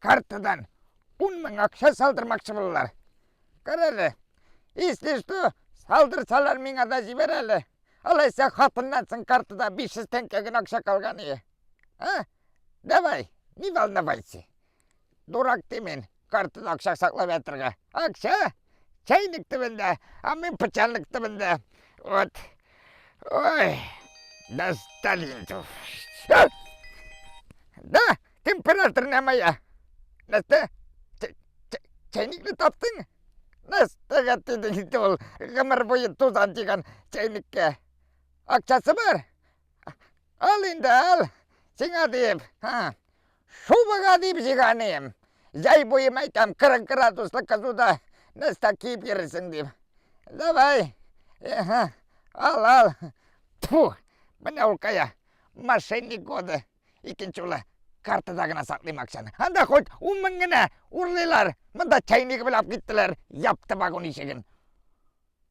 Картадан ун мең акча салдырмакчы булалар. Кара әле. Если что, салдырсалар миңа да җибәр әле. Алайса хатыннан соң картада 500 тәңкә генә акча калган ие. А? Давай, не волновайся. Дурак ти мин, картада акча саклап ятырга. Акча? Чайник төбендә, а мин пычанлык төбендә. Вот. Ой, достали. Да! Температор не моя. Нәстә, чәйникне таптың? Нәстәгә тиде инде ул гомер буе тузан дигән чәйниккә. Акчасы бар? Ал инде, ал. Сиңа диеп, ха. Шубага диеп җиганем. Җәй буе мәйтәм 40 градуслы кызуда нәстә киеп йөрерсең дип. Давай. Ага. Ал, ал. Тьфу. Менә ул кая. Мошенник годы. Икенче улы картада гына саклыйм акчаны. Анда хоть ун мең генә урлыйлар. Монда чәйнигеп уйлап киттеләр, япты вагон ишеген.